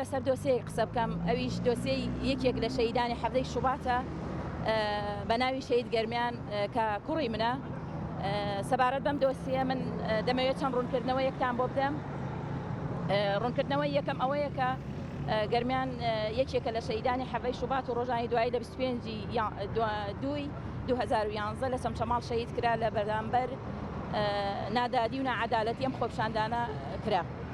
لەسەر دۆسێیەک قسە بکەم ئەویش دۆسێی یەکێک لە شەیدانی حەڤدەی شوباتە بە ناوی شەید گەرمیان کە کوڕی منە سەبارەت بەم دۆسیە من دەمەوێت چەند ڕوونکردنەوە یەکتان بۆ بدەم ڕوونکردنەوە یەکەم ئەوەیە کە گەرمیان یەکێکە لە شەیدانی حەڤەی شوبات و ڕۆژانی دوایی لە 25 دوی 2011 لە چەمچەماڵ شەید کرا لە بەرامبەر نادادی و ناعەدالەتی ئەم خۆپشاندانە کرا.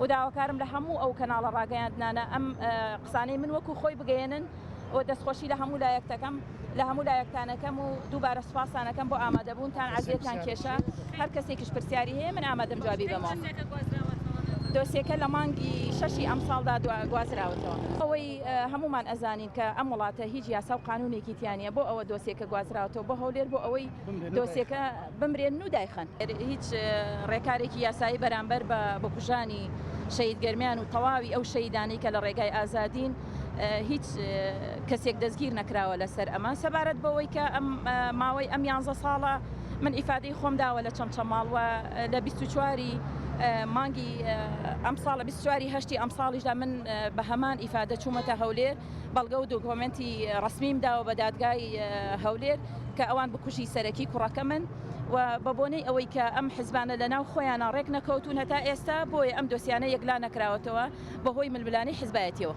و داواکارم لە هەموو ئەو کەناڵە ڕاگەیاندنانە ئەم قسانەی من وەکو خۆی بگەیەنن و دەستخۆشی لە هەموو لایەک دەکەم لە هەموو لایەکتانەکەم و دووبارە سوپاستانەکەم بۆ ئامادەبوونتان عزیەتان کێشا هەر کەسێکیش پرسیاری هەیە من ئامادەم جوابی بەمەوە. دۆسیەکە لە مانگی شەشی ئەم ساڵدا گوازراوەتەوە ئەوەی هەمومان ئەزانین کە ئەم وڵاتە هیچ یاسا و قانونێکی تیانە بۆ ئەوە دۆسیەکە گوازراوەتەوە بۆ هەولێر بۆ ئەوەی دۆسیەکە بمرێن و دایخەن. هیچ ڕێکارێکی یاسایی بەرامبەر بە بکوژانی شەهید گەرمیان و تەواوی ئەو شەهیدانەی کە لە ڕێگای ئازادین هیچ کەسێک دەستگیر نەکراوە لەسەر ئەمە سەبارەت بەوەی کە ئەم ماوەی ئەم یانزە ساڵە من ئیفادەی خۆم داوە لە چەمچەماڵ و لە 24 مانگی ئەم ساڵە 24 هەشتی ئەم ساڵیشدا من بە هەمان ئیفادە چوومەتە هەولێر بەڵگە و دۆکۆمێنتی ڕەسمیم داوە بە دادگای هەولێر کە ئەوان بکوژی سەرەکی کوڕەکەمن و بە بۆنەی ئەوەی کە ئەم حزبانە لە ناو خۆیانە ڕێک نەکەوتون هەتا ئێستا بۆیە ئەم دۆسیانە یەکلا نەکراوەتەوە بەهۆی ململانێی حزبایەتیەوە.